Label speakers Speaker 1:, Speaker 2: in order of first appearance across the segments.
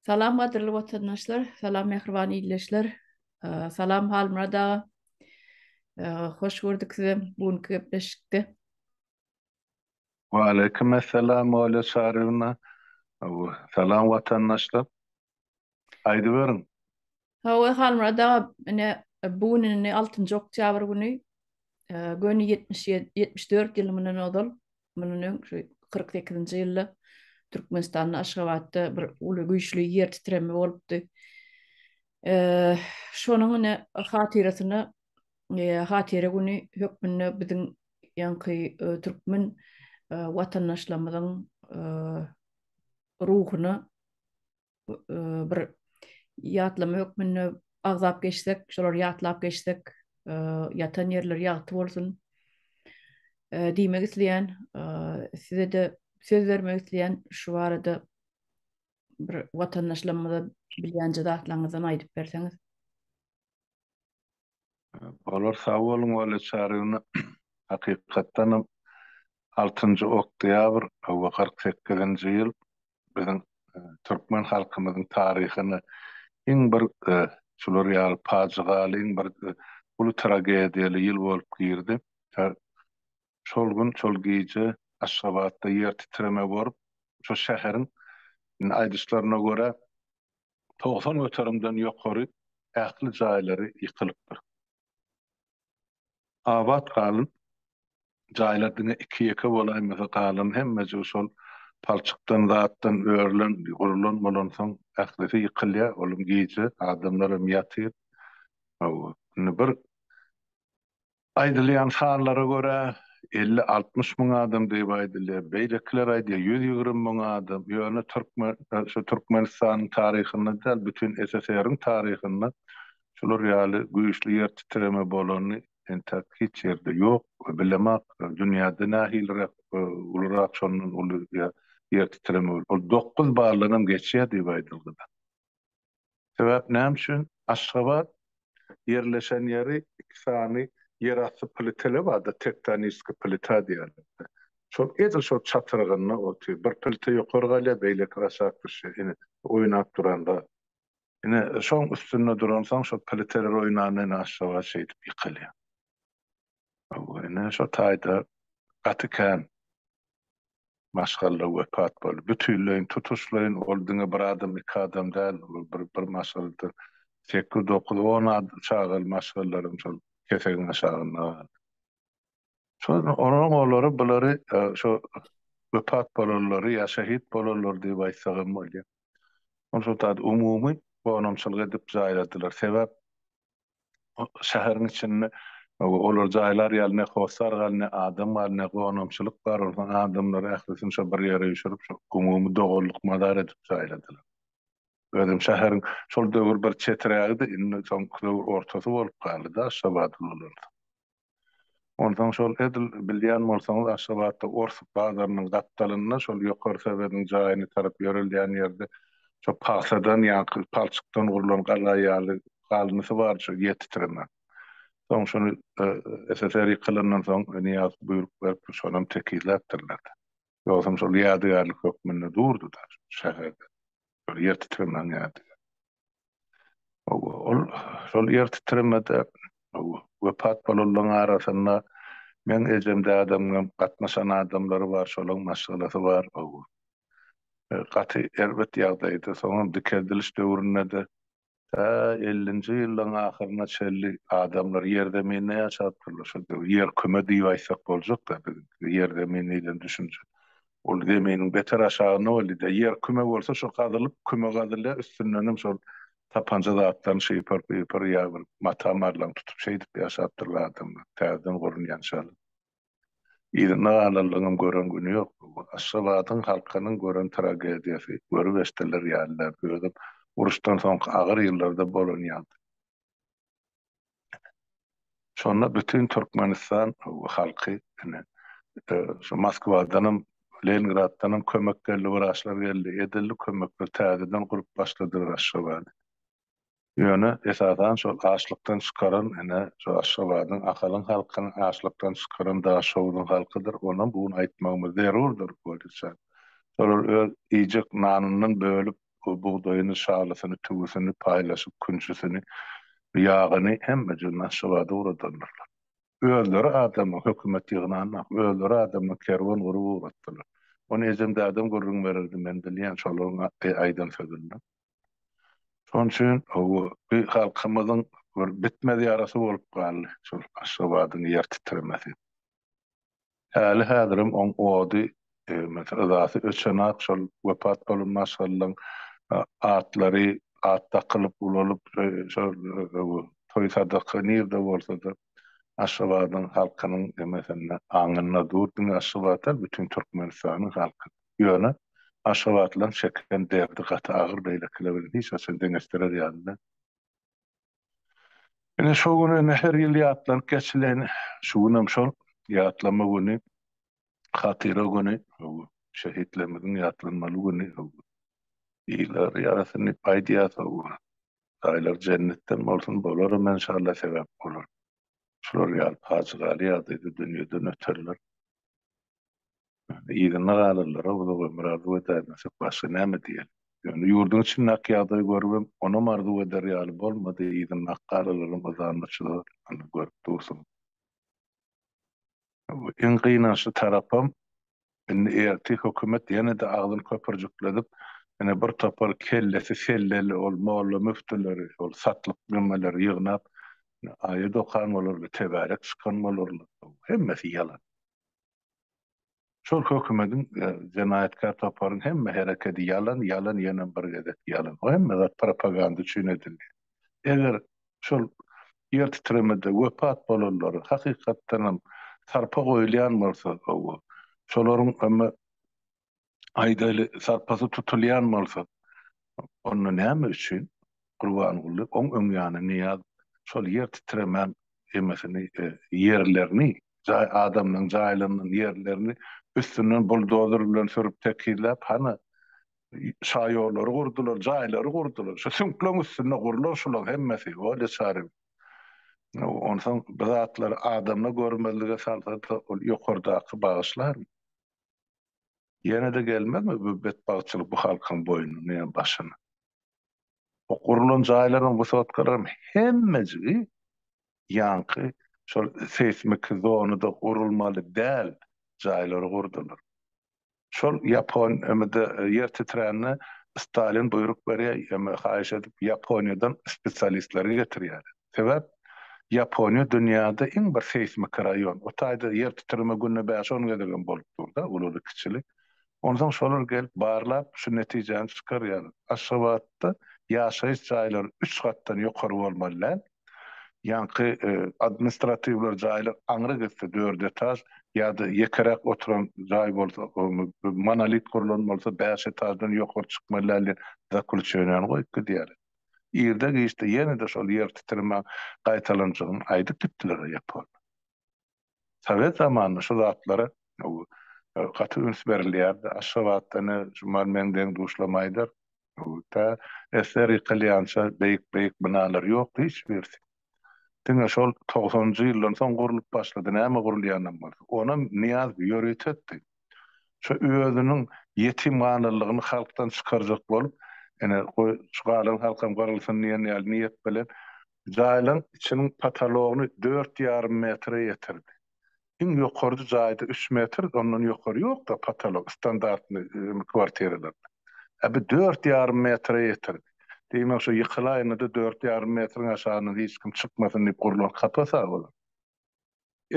Speaker 1: Salam gadyrly watandaşlar, salam mähriban ildeşler, salam Halmyrat aga. Hoş gördük sizi bu günki gepleşikde.
Speaker 2: Waleýkim essalam Olýa Çaryýewna. Salam watandaşlar. Aýdyberiň. Hawa,
Speaker 1: Halmyrat aga, ine, bu gün indi altynjy oktýabr güni, göni ýetmiş ýedi, ýetmiş dört ýyl mundan ozal, mundan öň şu kyrk sekizinji ýylda Türkmenistanda, Aşgabatda bir uly güýçli ýer titreme bolupdy. Şonuň ine hatyrasyna hatyra güni hökmünde biziň ýaňky türkmen watandaşlarymyzyň ruhuna bir ýatlama hökmünde agzap geçsek, şolary ýatlap geçsek, ýatan ýerleri ýagty bolsun. Diýmek isleýän, size-de söz bermek isleýän şu barada bir watandaşlarymyza bilýän zatlaryňyzdan aýdyp berseňiz.
Speaker 2: Olar sag boluň wally çary güni hakykatdanam altynjy oktýabr we kyrk sekizinji ýyl biziň türkmen halkymyzyň taryhyna iň bir şular ýaly pajygaly iň bir uly tragediýaly ýyl bolup girdi. Şol gün şol gije Aşgabatda ýer titreme borup şo şäheriň indi aýdyşlaryna görä togsan göterimden ýokary ähli jaýlary ýykylypdyr. Abat galan jaýlar diňe iki-ýeke bolaýmasa galan hemmejigi şol palçykdan zatdan örülen gurlan bolansoň ählisi ýykylýar olam gije adamlaram ýatyr indi bir Aýdylýan sanlara görä, elli-altmyş müň adam diýip aýdylýar. Beýlekiler aýdýar, ýüz ýigrimi müň adam. Ýöne türkmen, şu Türkmenistanyň taryhynda däl, bütin SSR-iň taryhynda şular ýaly güýçli ýer titreme bolany entäk hiç ýerde ýok we bilemak. Dünýäde nähiliräk ulurak şondan uly ýer titreme bolýar. Ol dokuz baldan hem geçýär diýip aýdylgyda. Sebäp näme üçin? Aşgabat ýerleşen ýeri iki sany ýerasty plitele bardy, tektoniskiý plita diýerlerdi. Şol edil şol çatyrygynda otyr. Bir plita ýokary galýar, beýleki aşak düşýär. Ine, oýnap duran zat. Ine, şoň üstünde duransoň, şol pliteler oýnanda ine Aşgabat şeýdip ýykylýar. Ine şo taýda gaty kän maşgala wepat boldy. Bütinleýin, tutuşlaýyn ol diňe bir adam, iki adam däl, ol bir maşgalada sekiz, dokuz, on çagaly maşgalalarym şol kesegiň aşagynda galdy. Şonda olaryň olary, bulary şo wepat bolanlary ýa şehit bolanlary diýip aýtsagam bolýar. Ony şo taýda umumy gonamçylyk edip jaýladylar. Sebäp şäheriň içinde olar jaýlar ýaly ne hossar gal, ne adam gal, ne gonamçylyk bar. Onsoň adamlary ählisini şo bir ýere üýşürip, şo umumy doganlyk mazar edip jaýladylar. Özem şäheriň şol döwür bir çetirägidi, indi soňky döwür ortasy bolup galdy-da Aşgabadyň olardyň. Onsoň şol edil bilýän bolsaňyz Aşgabatda ors bazarynyň gapdalynda şol ýokary sowediň jaýyna tarap ýörelýän ýerde şo pagsadan ýaňky palçykdan gurlan gala ýaly galyndysy bardy şo ýer titreme. Soň şony SSR ýykylandan soň Nyýazow buýruk beripdir şonam tekizläpdirler-de. Ýogsam şol ýadygärlik hökmünde durdy-da şäherde şol ýer titremäň ýadygärligi. Ol şol ýer titremede wepat bolanlaryň arasynda meň ejem dadam hem gatnaşan adamlary bar, şolaryň maşgalasy bar. Gaty erbet ýagdaýda, soňam dikeldiliş döwründe-de tä ellinji ýyllaryň ahyryna çenli adamlar ýerzeminde ýaşapdyrlar. Şol ýer küme diýip aýtsak boljak-da, biziňki ýerzemine diýlen düşünje Ol zeminiň beter aşagynda boldy-da, ýer küme bolsa şo gazylyp, küme gazylýar, üstündenem şol tapanja zatlaryny şypyr-pypyr ýa bir mata marlaň tutup şeýdip ýaşapdyrlar adamlar, täzeden gurulýan şaly. Yzynda galanlaryňam gören güni ýok. Bu Aşgabadyň halkynyň gören tragediýasy, görüp-eşidenler ýaly däl, özem uruşdan soňky agyr ýyllarda bolan ýagdaý. Şonda bütin Türkmenistan halky ine şu Moskwadanam, Leningraddanam kömek geldi, wraçlar geldi, edildi kömekler, täzeden gurup başladylar Aşgabady. Ýöne esasan şol açlykdan çykaran ine şu Aşgabadyň, Ahalyň halkyny açlykdan çykaran Daşoguzyň halkydyr. Onam bu gün aýtmagymyz zerurdyr, Wojitjan. Şolar öz iýjek nanyndan bölüp, Bu bugdaýyny, şalysyny, tüwüsini, paýlaşyk künjüsini, ýagyny hemmejiginden Aşgabada ugradandyrlar. Özleri adamyň, hökümet ýygnanok, özleri adamyň kerwen gurup ugratdylar. Ony ejem dädem gürrüň bererdi, men bilýän şolaryň aýdan sözünden. Şonuň üçin bu halkymyzyň bir bitmez ýarasy bolup galdy şol Aşgabadyň ýer titremesi. Häli-häzirem oň ody, mesel, yzasy öçenak, şol wepat bolan maşgalalaň atlary at dakylyp, ulalyp, şol toý-sadaka nirde bolsa-da, Aşgabadyň halkynyň, mesel, aňynda dur. Diňe Aşgabat däl, bütin Türkmenistanyň halky. Ýöne aşgabatlylaryň çeken derdi gaty agyr, beýlekiler bilen hiç haçan deňeşdirer ýaly däl. Ine şo gün ine her ýyl ýatlanyp geçilen şu günem şol ýatlama güni, hatyra güni, şehitlerimiziň ýatlanmaly güni. Ýylar ýarasyn diýip aýdýas. Jaýlary jennetden bolsun, bolaram enşalla sebäp bolar. Şular ýaly pajygaly ýagdaýda dünýeden öterler. Yzyna galanlara uzak ömür arzuw edäýmesek, başga näme diýeli? Ýöne ýurduň içindäki ýagdaýy görübem, onam arzuw eder ýaly bolmady, yzyndaky galalaryň yzanmaçlygyny görüp dursuň. Iň gynançly tarapam, indi ertir hökümet ýene-de agzyny köpürjikledip, ýene bir topar kellesi selleli ol molla-müftüleri, ol satlyk nemeleri ýygnap, aýat okan bolarlar, tebärek çykan bolarlar. Hemmesi ýalan. Şol hökümediň we jenaýatkär toparyň hemme herekedi ýalan, ýalan ýönem bir gezek ýalan. Bu hemme zat propaganda üçin edildi. Eger şol ýer titremede wepat bolanlary hakykatdanam sarpa goýulýan bolsa, gowy. Şolaryň ömü Aýdaýly, sarpasy tutulýan bolsa, onda näme üçin Gurbanguly oň öň ýany Nyýaz şol ýer titremän emesini ýerlerini jaý adamlaryň jaýlarynyň ýerlerini üstünden buldozer bilen sürüp tekizläp hany şaýollary gurdular jaýlary gurdular şu süňkleň üstünde gurlan şulaň hemmesi bolýa çary onsoň bu zatlary adamla görmezlige salsady ol ýokardaky bagyşlarmy. Ýene-de gelmezmi bu betbagtçylyk bu halkyň boýnuna ýa başyna? O gurlan jaýlaryň wysotkalarym hemmejigi ýaňky şol seýsmik zonada gurulmaly däl jaýlary gurdular. Şol ýapon emede ýer titrände Stalin buýruk berýär, ýa haýyş edip Ýaponiýadan spesialistleri getirýärler. Sebäp Ýaponiýa dünýäde iň bir seýsmiki raýon. O taýda ýer titreme günde bäş-on gezegem bolup dur-da, ululy-kiçili. Onsoň şolar gelip barlap, şu netijäni çykarýarlar. Aşgabatda ýaşaýyş jaýlary üç gatdan ýokary bolmaly däl. Ýaňky administratiwler jaýlar aňry gitse, dört etaž ýa-da ýekeräk oturan jaý bolsa, monolit gurlan bolsa, bäş etaždan ýokary çykmaly däl diýen zakluçeniýany goýup gidýärler. irde-giçde ýene-de şol ýer titreme gaýtalanjagyny aýdyp gitdiler-de ýek boldy. Sowet zamanynda şu zatlara gaty üns berilýärdi. Aşgabatda ene Juman meň deň-duşlamaýdyr. Tä esler ýykylýança beýik-beýik binalar ýokdy hiç birisi. Diňe şol togsanynjy ýyldan soň gurlup başlady, näme gurulýanam bolsa. Onam Nyýaz ýörütetdi. Şo özüniň ýetimhanallygyny halkdan çykarjak bolup, ine, goý, şu galan halkam gyrylsyn diýen ýaly niýet bilen, jaýlaryň içiniň potologyny dört ýarym metre ýetirdi. iň ýokarjy jaýda üç metr ondan ýokary ýokda patolog standartny kwartiralarda a bi dört ýarym metre ýetirdi diýmek şo ýykylaýynda-da dört ýarym metriň aşagyna hiç kim çykmasyn diýip gurlan kapas a olar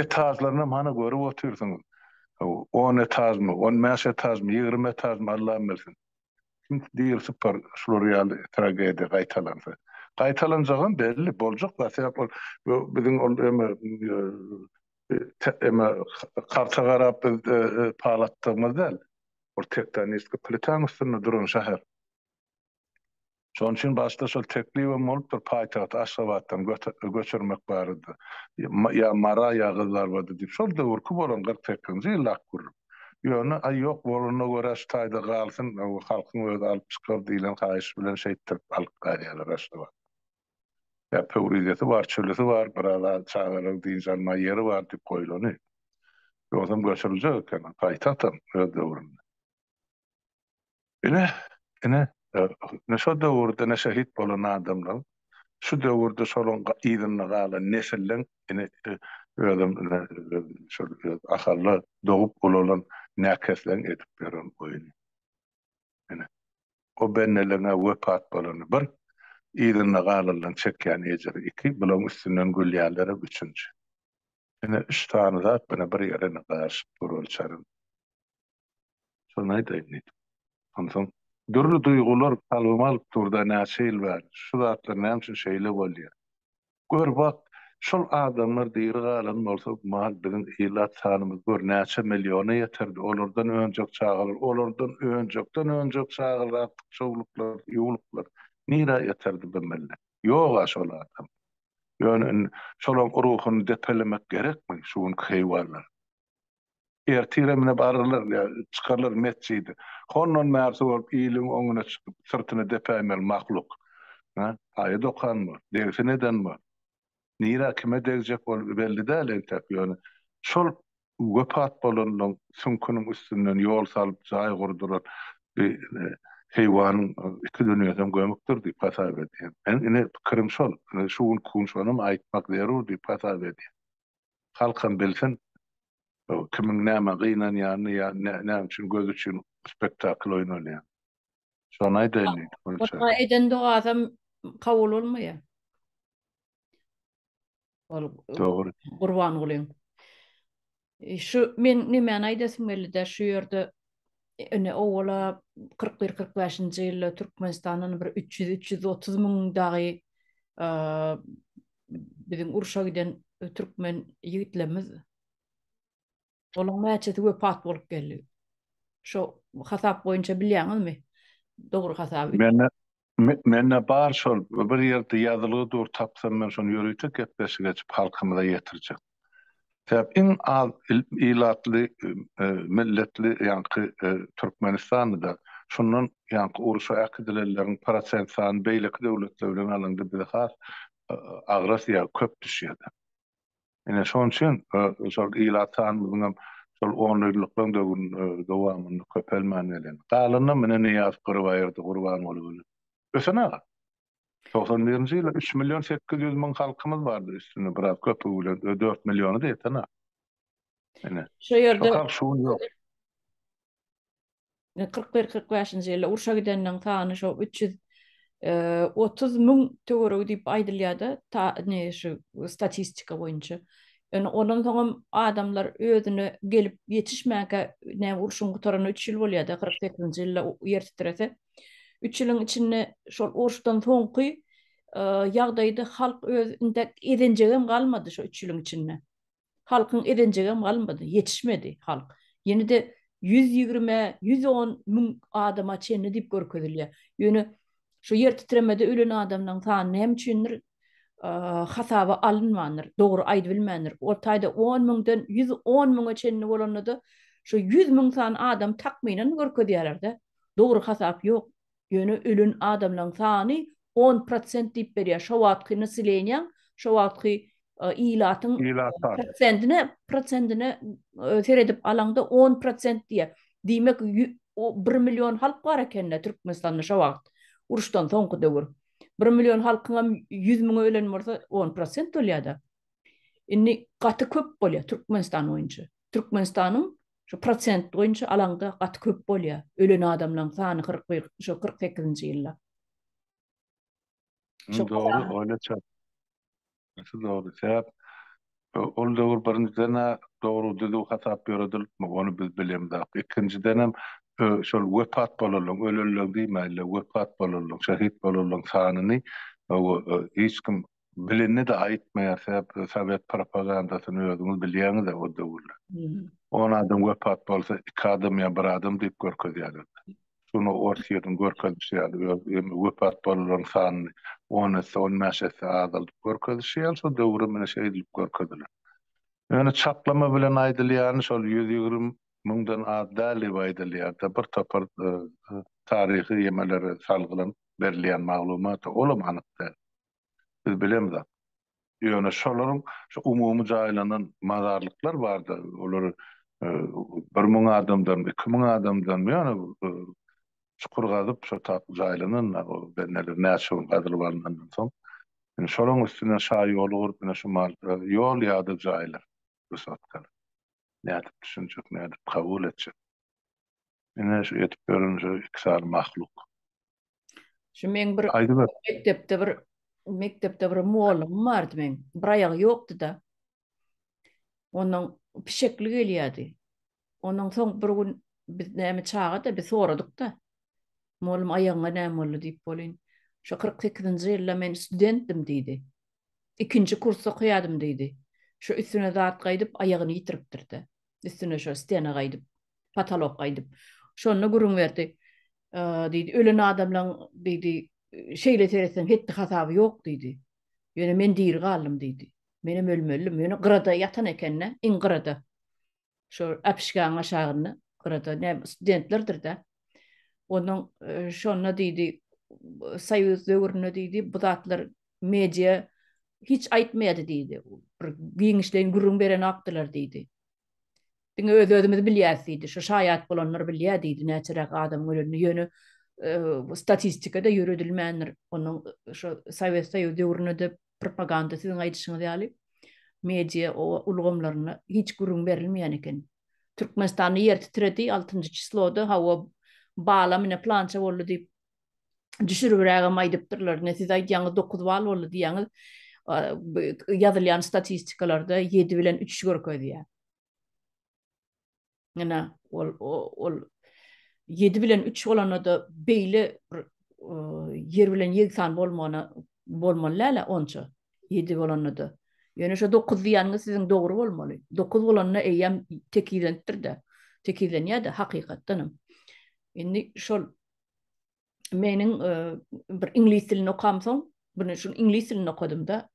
Speaker 2: etažlarynam hany görüp otyrsyňyz on etažmy on bäş etažmy ýigrimi etažmy allam bilsin Çünki diýil sypar şular ýaly tragediýa gaýtalansa. Gaýtalanjagam belli, boljak zat sebäp ol biziň ol eme eme karta garap biz palatdygymyz däl. Ol tektonistki plitaň üstünde duran şäher. Şonuň üçin başda şol teklibem bolupdyr, paýtagty Aşgabatdan göçürmek barada. Ýa Mara, ýa Gyzlarbadyr diýip. Şol döwürki bolan kyrk sekizinji ýyl ak gürrüň. Ýöne, aý, ýok, bolanyna görä, şu taýda galsyn, halkyň özi alyp çykar diýlen haýyş bilen şeýtdirip alyp galýarlar Aşgabatdan. Ýa Pöwrizesi bar, çölüsi bar, biraz çagalaryň dynç almaga ýeri bar diýip goýlany. Ýogsam göçüriljek eken, paýtagtam öz döwründe. Ine, ine, ine şo döwürde ine şehit bolan adamlaň, şu döwürde şolaň yzynda galan nesilleň ine özem ine şol öz Ahalda dogup ulalan näkesleň edip ýören oýny. Ine, o bendeleňä wepat bolany bir, yzynda galanlaň çekýän ejiri iki, bulaň üstünden gülýänlerem üçünji. Ine, üç sany zat ine bir ýere ine garyşyp dur ol çaryň. Şony aýdaýyn diýdim. Onsoň dürli duýgular kalbyma alyp durda näçe ýyl bäri, şu zatlar näme üçin şeýle bolýa? Gör bak, şol adamlar diri galan bolsa bu mahaly biziň ilat sanymyz gör näçe milliona ýeterdi, olardan önjek çagalar, olardan önjekden önjek çagalar artyk çowluklar, ýuwluklar nirä ýeterdi bu millet? Ýog-a şol adamlar. Ýöne indi şolaň ruhuny depelemek gerekmi şu günki heýwanlar? Ertire mine bararlar, ýa çykarlar metjidi. Hondan bärsi bolup iliň öňüne çykyp, syrtyny depäýmeli mahluk. Hä? Aýat okan bu, degsin eden bu. Nirä, kime degjek bolup belli däl entek, ýöne şol wepat bolanlaryň süňküniň üstünden ýol salyp, jaý gurduran bi heýwanyň iki dünýesem gömükdir diýip hasap edýän. Meniň ine pikirim şol. Ine şu gün kun şonam aýtmak zerur diýip hasap edýän. halkam bilsin, kimiň nämä gynanýanyny ýa näme üçin göz üçin spektakl oýnalýan. Şony aýdaýyn diýdi Gülçe. Ol eden
Speaker 1: dogasam kabul bolmaýa. Ol Dogry.
Speaker 2: Gurbangulyň.
Speaker 1: Şu men nemäni aýdasym geldi-de, şu ýerde ine owala kyrk bir, kyrk bäşinji ýylda Türkmenistandan bir üç ýüz, üç ýüz otuz müň dagy biziň urşa giden türkmen ýigitlerimiz olaň näçesi wepat bolup geldi? Şo hasap boýunça bilýäňizmi? Dogry hasaby. Mende mende
Speaker 2: bar şol bir ýerde ýazylgy dur tapsam men şony ýörite gepleşik açyp halkymyza ýetirjek. Sebäbi iň az ilatly, milletli ýaňky Türkmenistandyda. Şondan ýaňky urşa äkidilenleriň prosent sany beýleki döwletler bilen alanda bize has agras ýa köp düşýärdi. Ine şonuň üçin şol ilat sanymyzyň hem şol onýyllyklaryň döwründe dowamynda köpelmän gelýär. Galanynam ine Nyýazow Gyrybaýyrdy, Gurbanguly Ösen aga. Togsan birinji ýyla üç million sekiz ýüz müň halkymyz bardy, üstüne biraz köpügi bilen ö dört milliony-da ýeten-a. Ine. Şu ýerde. Şo
Speaker 1: şu gün ýok. Kyrk bir, kyrk bäşinji ýylda urşa gideniň sany şo üç ýüz otuz müň töweregi diýip aýdylýar-da, ta ne şu statistika boýunça. Ýöne ondan soňam adamlar özüne gelip ýetişmänkä, näme urşuň gutaranyna üç ýyl bolýar-da, kyrk sekizinji ýylda ýer titrese. Üç ýylyň içinde şol uruşdan soňky ýagdaýda halk öz ezenjegem galmady şo üç ýylyň içinde. Halkyň ezenjegem galmady, ýetişmedi halk. Ýene-de ýüz ýigrimi, ýüz on müň adama çenli diýip görkezilýär. Ýöne şu ýer titremede ölen adamlaryň sany näme üçindir hasaba alynmandyr, dogry aýdybilmändir. Ol taýda on müňden ýüz on müňe çenli bolanda-da, şu ýüz müň sany adam takmynan görkezýärler-de. Dogry hasap ýok. Ýöne ölen adamlaň sany on prosent diýip berýär. Şo wagtky nasileniýaň, şo wagtky ilatyň prosentine prosentine seredip alaňda on prosent diýär. Diýmek bir million halk bar ekende Türkmenistanda şo wagt. Uruşdan soňky döwür. Bir million halkyňam ýüz müňi ölen bolsa on prosent bolýada. Indi gaty köp bolýar Türkmenistan boýunça. Türkmenistanyň Şu prosent boýunça alaňda gaty köp bolýar. Ölen adamlaň sany kyrk bir şo kyrk sekizinji ýylda.
Speaker 2: Şo dogry oýla çak. Şu dogry sebäp ol döwür birinjiden a dogry düzüw hasap ýöredilipmi ony biz bilemzok. Ikinjidenem şol wepat bolanlaň ölenleň diýmäýle wepat bolanlaň şehit bolanlaň sanyny hiç kim Bilenini-de aýtmaýar, sebäbi sowet propagandasyny özüňiz bilýäňiz-ä o döwürler. On adam wepat bolsa, iki adam ýa bir adam diýip görkezýärler. Şuny Orsýetiň görkezişi ýaly, öz wepat bolanlaryň sanyny on esse, on bäş esse azaldyp görkezişi ýaly, şo döwürem ine şeýdilip görkeziler. Ýöne çaklama bilen aýdylýany şol ýüz ýigrimi müňden az däl diýip aýdylýar-da, bir topar taryhy ýemelere salgylanyp berilýän maglumat-a, olam anyk däl. Biz bilemzok. Ýöne şolaryň şu umumy jaýlanan mazarlyklar bardy. Olar bir müň adamdanmy, iki müň adamdanmy ýöne çukur gazyp şo taýda jaýlanan benneler näçe gün gazylyp alnandan soň. Indi şolaryň üstünden şa ýoly gurup ine şu mal ýol ýa-da jaýlar wysotkalar. Nädip düşünjek, nädip kabul etjek. Ine şu edip ýören şu iki sany mahluk.
Speaker 1: Şu men bir mekdepde
Speaker 2: bir
Speaker 1: mekdepde bir muollymym bardy men. Bir aýagy ýokdy-da. Onuň pişekli gelýärdi. Onuň soň bir gün biz näme çaga-da biz soradyk-da. Muollym aýagyňa näme boldy diýip bolin. Şu 48-nji ýylda men studentdim diýdi. Ikinji kursda okaýadym diýdi. Şu üstüne zat gaýdyp aýagyny ýitiripdir-de. Üstüne şo stena gaýdyp, patalok gaýdyp. Şonda gürrüň berdi. Diýdi, ölen adamlaň diýdi, şeýle seretseň hetdi hasaby ýok diýdi. Ýöne men diri galdym diýdi. Menem ölmelidim. Ýöne gyrada ýatan ekende, iň gyrada. Şo apişgäň aşagynda, gyrada ne studentlerdir-de. Ondan şonda diýdi, soýuz döwründe diýdi, bu zatlar Media hiç aýtmaýady diýdi. Bir giňişleýin gürrüň berenokdylar diýdi. Diňe öz-özümiz bilýäs diýdi. Şo şaýat bolanlar bilýär diýdi näçeräk adamyň ölenini. Ýöne bu statistika-da ýöredilmändir. Onuň şo Sowet Soýuzy döwründe-de propaganda siziň aýdyşyňyz ýaly media ulgamlarynda hiç gürrüň berilmeýän eken. Türkmenistanda ýer titredi, altynjy çisloda, hawa, balam ine plança boldy diýip düşüribrägem aýdypdyrlar. Ine, siz aýdýaňyz, dokuz bal boldy diýýäňiz. Ýazylýan statistikalarda ýedi bilen üç görkezýär. Ine, ol, ol ýedi bilen üç bolanda-da beýle bir ýer bilen ýegsan bolmagyna bolmaly däl-ä onça. Ýedi bolanda-da. Ýöne şu dokuz diýýäniňiz siziň dogry bolmaly. Dokuz bolanda eýýäm tekizlenipdir-de. Tekizlenýär-de, hakykatdanam. Indi şol meniň e, bir iňlis dilini okamsoň, bunu şu iňlis dilini okadymda,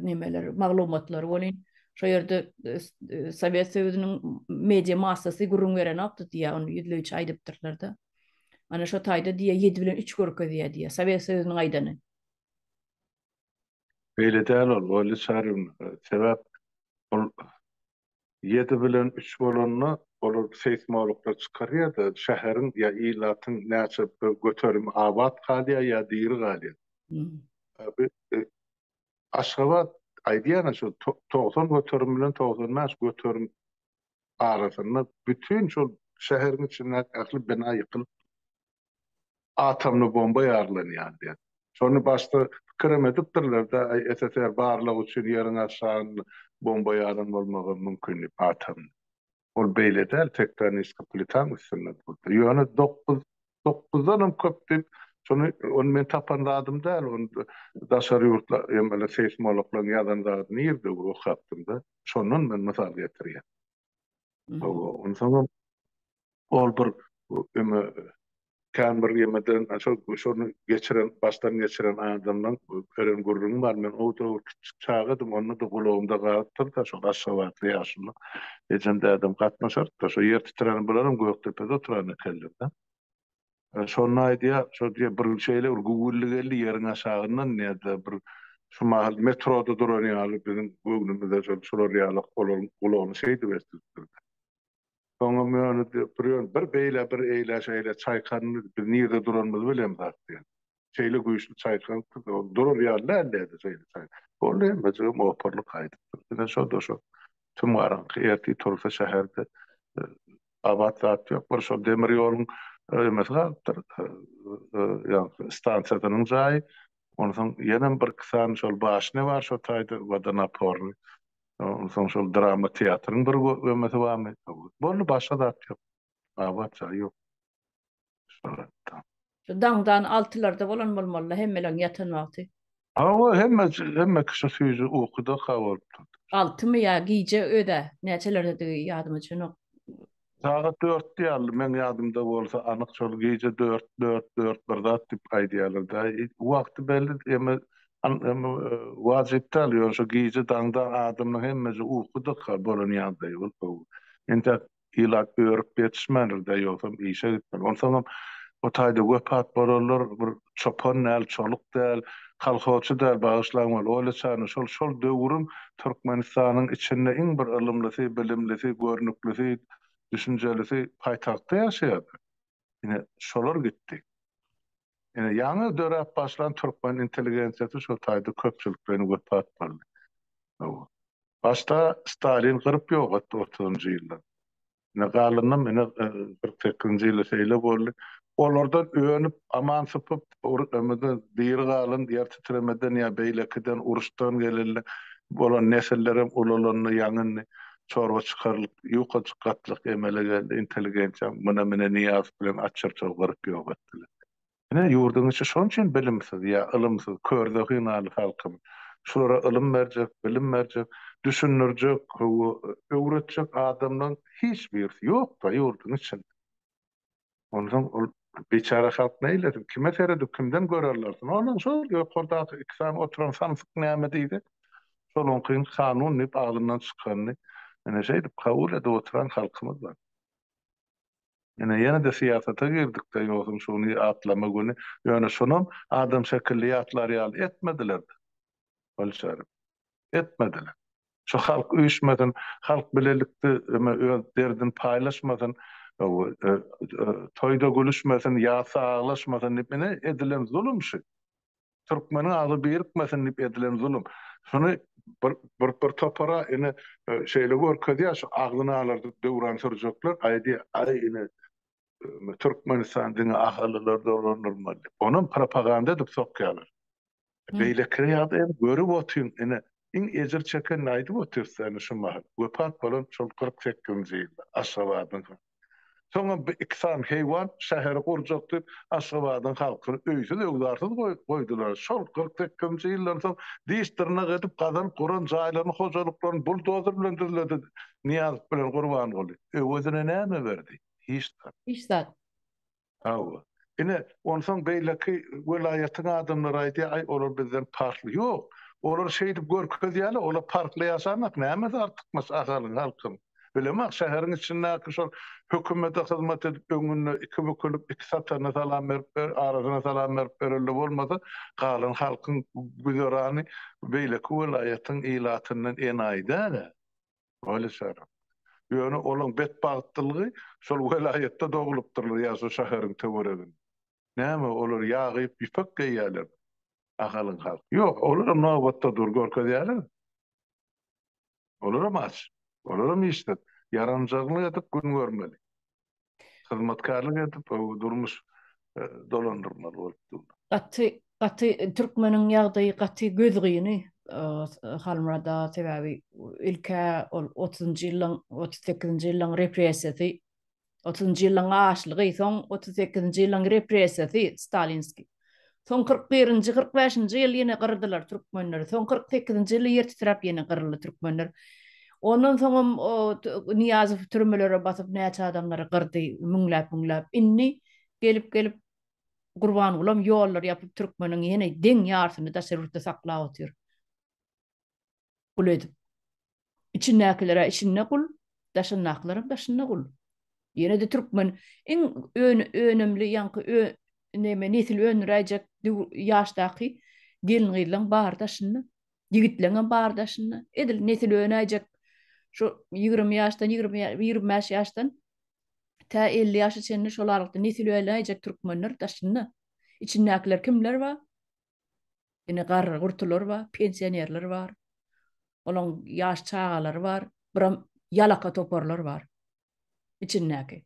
Speaker 1: nemeler, maglumatlary bolin. Şu ýerde e, e, Sowet Söýüziniň media massasy gürrüň beren okdy diýä, onu ýüzleýçi aýdypdyrlar da. Ana şu taýda diýä 7 bilen 3 görkezýär diýä, Sowet Söýüziniň aýdany.
Speaker 2: Beýle däl ol, Oýly Çaryň, e, sebäp ol Ýedi bilen üç bolanda olar seýsmologlar çykarýar-da, şäheriň ýa ilatyň näçe bir göterimi abat galýar ýa diri galýar. Aşgabat, aýdýan-a şol togsan göterim bilen togsan bäş göterim arasynda bütin şol şäheriň içindäki ähli bina ýykylypdyr. atomly bomba ýarlanýar diýen. Şony başda pikirem edipdirler-de, SSR barlag üçin ýeriň aşagynda bomba ýaran bolmagam mümkin diýip, atomly. Ol beýle däl, tektoniskiý plitaň üstünde durdy. Ýöne dokuz, dokuzdanam köp diýip, şony, ony men tapan zadym däl, ony daşary ýurtly emeli seýsmologlaryň ýazan zady nirede okapdym-da, şondan men mysal getirýän. Onsoňam ol bir öňe kän bir ýemeden şol şony geçiren, başdan geçiren adamdan ören gürrüňi bar. Men o döwür kiçijik çagadym, onda-da gulagymda galypdyr-da, şol aşgabatly ýaşymda ejem-dädem gatnaşardy-da, şo ýer titrände bularam Gökdepede oturan ekenler-de. Şonda aýdýar, şo diýýär, bir şeýle bir güwwülli geldi ýeriň aşagyndan, nädip-de bir şu mahal metroda duran ýaly biziň göwnümize şol şular ýaly olaryň gulagyny şeýdip esdiripdir. Soňam ýöne bir ýöne bir beýle bir eýle-şeýle çaýkandy, biz nirede duranymyzy bilemzok diýýär. Şeýle güýçli çaýkalypdy, ol durar ýaly däldi-de şeýle çaý. Boldy, emmejigim opurylyp gaýdypdyr. Ine, şo-da şo tüm garaňky ertir tursa şäherde gabat zat ýok. Bir şol demir ýoluň emesi galypdyr, ýaňky stansiýasynyň jaýy. Onsoň ýenem birki sany şol başnýa bar şo taýda, wodonapornyý. Onsoň şol drama teatryň bir emesi barmy? Boldy, başga zat ýok. Gabat jaý ýok. Suratda.
Speaker 1: Şu daňdan altylarda bolan bolmalyda hemmeleriň ýatan wagty. Hawa hemme
Speaker 2: hemme kişi süýji ukyda ka bolup durdy. Altymy ýa
Speaker 1: gije öýdä näçelerdedigi ýadyma düşenok. Sagat
Speaker 2: dörtdi ýaly meň ýadymda bolsa anyk şol gije dört dört dört bir zat diýip aýdýarlar da wagty belli emme emme wajyp däl ýöne şo gije daňdan adamlaň hemmeje ukyda ka bolan ýagdaýy bolup entek ilat örüp ýetişmändir-dä, ýogsam işe gitmeli. Onsoňam o taýda wepat bolanlar bir çopan däl, çoluk däl, kolhozçy däl, bagyşlaň weli, oýla çany şol, şol döwrüň Türkmenistanyň içinde iň bir ylymlysy, bilimlisi, görnüklisi, düşünjelisi paýtagtda ýaşaýardy. Ine, şolar gitdi. Ine, ýaňy döräp başlan türkmen intelligensiýasy şo taýda köpçülik bilen wepat boldy. Başda Stalin gyryp ýok etdi otuzynjy ýylda. Ine, galanam ine, kyrk sekizinji ýylda şeýle boldy. Olardan önüp, aman sypyp, ýa-da diri galan, ýer titremeden ýa beýlekiden, uruşdan gelende bolan nesillerem ulalandy, ýaňyndy. çorba çykarylyp, ýukajyk gatlyk emele geldi, intelligensiýam muna mine Nyýazow bilen açyrtow gyryp ýok etdiler. Ine, ýurduň içi şonuň üçin bilimsiz ýa ylymsyz, kör zehinany halkymyz. Şulara ylym berjek, bilim berjek, düşündirjek, hawa, öwretjek adamlaryň hiç birisi ýok-da ýurduň içinde. Onsoň ol biçäre halk neýlesin, kime seredip, kimden gör alsyn? Onsoň şol ýokardaky iki sany oturan samsyk näme diýdi, şolaňkyny kanun diýip agzyndan çykanyny ine şeýdip kabul edip oturan halkymyz bar. Ine ýene-de syýasata girdik-de, ýogsam şuny ýatlama güni, ýöne şonam adam şekilli ýatlar ýaly etmediler-de. bolşaryň. Etmediler. Şu halk üýşmesin, halk bilelikde öz derdini paýlaşmasyn, toýda gülüşmesin, ýasda aglaşmasyn diýip, ine, edilen zulum şu. Türkmeniň agzy birikmesin diýip edilen zulum. Şuny bir bir topara ine şeýle görkezýär, şu agzyny alardyp döwran sürjekler, aýdýar, aý ine, Türkmenistan diňe ahalylar dolandyrmaly. Onam propaganda edip sokýarlar. Beýlekine ýa-da hem görüp otyň, ine, iň ejir çekenini aýdyp otyrsa, ine, şu mahal. Wepat bolan şol kyrk sekizinji ýylda Aşgabadyň halky. Soňam bu iki sany heýwan şäheri gurjak diýip, Aşgabadyň halkyny öýsüz-öwzarsyz goýdular. Şol kyrk sekizinji ýyldan soň diş-dyrnak edip gazalyp guran jaýlaryny, hojalyklaryny buldozer bilen düzledi Nyýazow bilen Gurbanguly. Öwezine näme berdi? hiç zat. Hiç zat.
Speaker 1: Hawa.
Speaker 2: Ine, onsoň beýleki welaýatyň adamlary aýdýar, aý, olar bizden parhly. Ýok, olar şeýdip görkezýärler, olar parhly ýaşamak, nämesi artykmaç Ahalyň, halkyň. Bilemok, şäheriň içindäki şol hökümete hyzmat edip, öňünde iki bükülip, iki satana salam berip, arasyna salam berip berelde bolmasa, galan halkyň güzerany beýleki welaýatyň ilatyndan enaýy däl-ä. Weli Sarap. Ýöne olaň betbagtlygy şol welaýatda doglupdyrlar ýa şu şäheriň töwereginde. Näme, olar ýag iýip ýüpek geýýärlermi? Ahalyň halky. Ýok, olaram nobatda dur, görkezýärler. Olaram aç. Olaram işsiz. Ýaranjaglyk edip gün görmeli. Hyzmatkarlyk edip durmuş dolandyrmaly bolup dur. Gaty gaty
Speaker 1: türkmeniň ýagdaýy gaty gözgyny Halmyrat aga sebäbi ilkä ol otuzynjy ýyllaň otuz sekizinji ýyllaň repressiýasy otuzynjy ýyllaň açlygy soň otuz sekizinji ýyllaň repressiýasy stalinskiý Soň kyrk birinji, kyrk bäşinji ýyl ýene gyrdylar türkmenleri. Soň kyrk sekizinji ýyl ýer titrap ýene gyryldy türkmenler. Ondan soňam o Nyýazow türmelere basyp näçe adamlary gyrdy, müňläp-müňläp. Indi gelip-gelip Gurbangulam ýollary ýapyp türkmeniň ýene deň ýarsyny daşary ýurtda saklap otyr. gul edip. Içindäkilere içinde gul, daşyndakylaram daşynda gul. Ýene-de türkmen iň önümli ýaňky neme nesil öndüräýjek ýaşdaky gelin-gyzlaň bary daşynda. Ýigitleňem bary daşynda. Edil nesil önäýjek şu ýigrimi ýaşdan, ýigrimi bäş ýaşdan tä elli ýaşa çenli şol aralykda nesil önäýjek türkmenler daşynda. Içindäkiler kimler bar? Indi garry-gurtular bar, pensionerler bar. Olaň ýaş çagalary bar, biram ýalaka toparlar bar içindäki.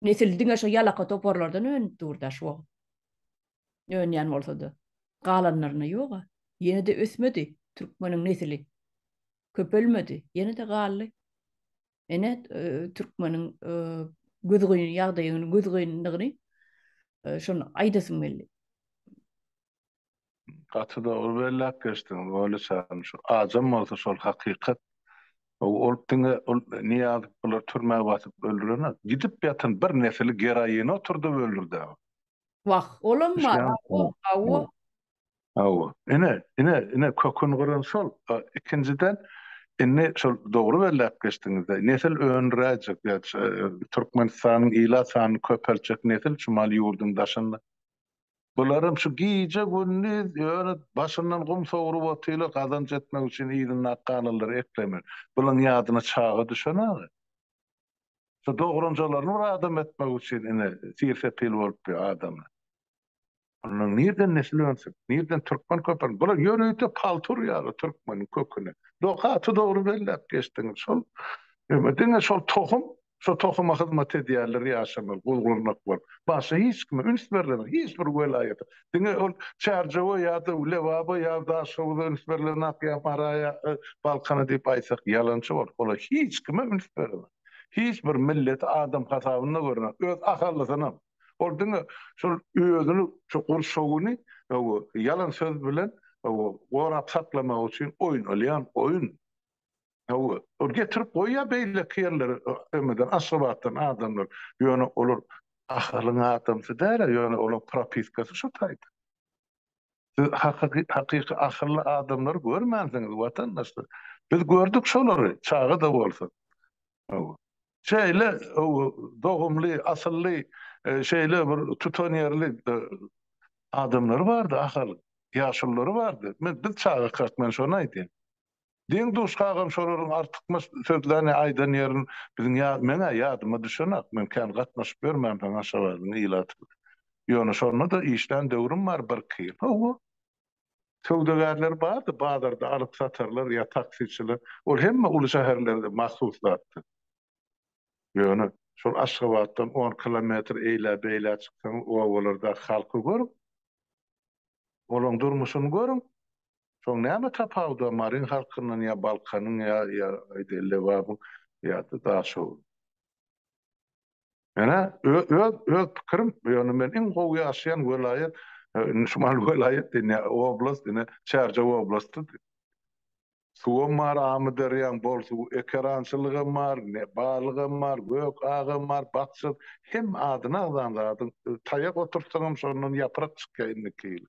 Speaker 1: Nesil diňe şo ýalaka toparlardan önüp dur-da şu wagt. Önýän bolsa-da. Galanlaryna ýog-a. Ýene-de ösmedi türkmeniň nesili. Köpelmedi. Ýene-de galdy. Ene türkmeniň gözgyn ýagdaýyny, gözgynlygyny şonu aýdasym geldi.
Speaker 2: Gaty dogry belläp geçdiň Weliç agam. Şu ajam bolsa şol hakykat. Ol diňe ol Niýazow bular türmä basyp öldürene gidip ýatan bir nesli geroin oturdyp öldürdi. Wah,
Speaker 1: olam bar. Hawa.
Speaker 2: Hawa, ine, ine, ine köküni gyran şol. Ikinjiden, indi şol dogry belläp geçdiňiz-de, nesil öndüräýjek, Türkmenistanyň ilat sanyny köpeltjek nesil çumaly ýurduň daşynda. Bularam şu gije-gündiz ýöne başyndan gum sowrup otyrlar, gazanç etmek üçin yzynda ak galynlary eklemek. Bulaň ýadyna çaga düşenok-a. Şu dogrunjalaryny bir adam etmek üçin ine, tir-sepil bolup ýör adamlar. Onda nirden nesil önsün? Nirden türkmen köpelsin? Bular ýörite paltur ýaly türkmeniň köküni. Dog gaty dogry belläp geçdiňiz. Şol ýöne diňe şol tohum, şo tohuma hyzmat edýärler ýaşamaly gul-gurnak bolup. Başga hiç kime üns berlenok. Hiç bir welaýata. Diňe ol Çärjewe ýa-da Lebaba ýa Daşoguza üns berlenok ýa Mara ýa Balkana diýip aýtsak ýalançy bolar. Olar hiç kime üns berenok. Hiç bir milleti adam hasabynda görenok. Öz ahalysynam. Ol diňe şol özüni şu gurşawyny ýalan söz bilen gorap saklamak üçin oýnalýan oýun. Ol getirip goýýar beýleki ýerlere Ömeden Aşgabatdan adamlar. Ýöne olar Ahalyň adamsy däl-ä, ýöne olaryň propiskasy şu taýda. Siz hakyky ahally adamlary görmänsiňiz watandaşlar. Biz gördük şolary çaga-da bolsa. Şeýle dogumly, asylly, şeýle bir tutanýerli adamlary bardy Ahalyň. Ýaşululary bardy. Men biz çagakak, men şony aýdýan. Deň-duş kagam şolaryň artykmaç sözlerini aýdan ýerin biziň ýa, men-ä ýadyma düşenak, men kän gatnaşyp ýörmänsoň Aşgabadyň ilaty bilen. Ýöne şonda-da işlän döwrüm bar birki ýyl. Hawa. Söwdagärler bardy, bazarda alyp-satarlar ýa taksiçiler, ol hemme uly şäherlerde mahsus zatdy. Ýöne, şol Aşgabatdan on kilometr eýlä-beýlä çyksaňyz, obalardaky halky görüň, olaryň durmuşyny görüň, şoň näme tapawudy bar Maryň halkyndan ýa Balkanyň ýa, ýa, aýdaýyn, Lebabyň ýa-da Daşoguzyň? Ýöne öz pikirim, ýöne men iň gowy ýaşaýan welaýat Şimal welaýat diýen oblast ine Çärjew oblasty. Suwam bar, amyderýaň bol suw, ekerançylygam bar, balygam bar, gök agam bar, bakja, hemme adyny agzan zadyň taýak oturtsaňam şondan ýaprak çykýar indiki ýyl.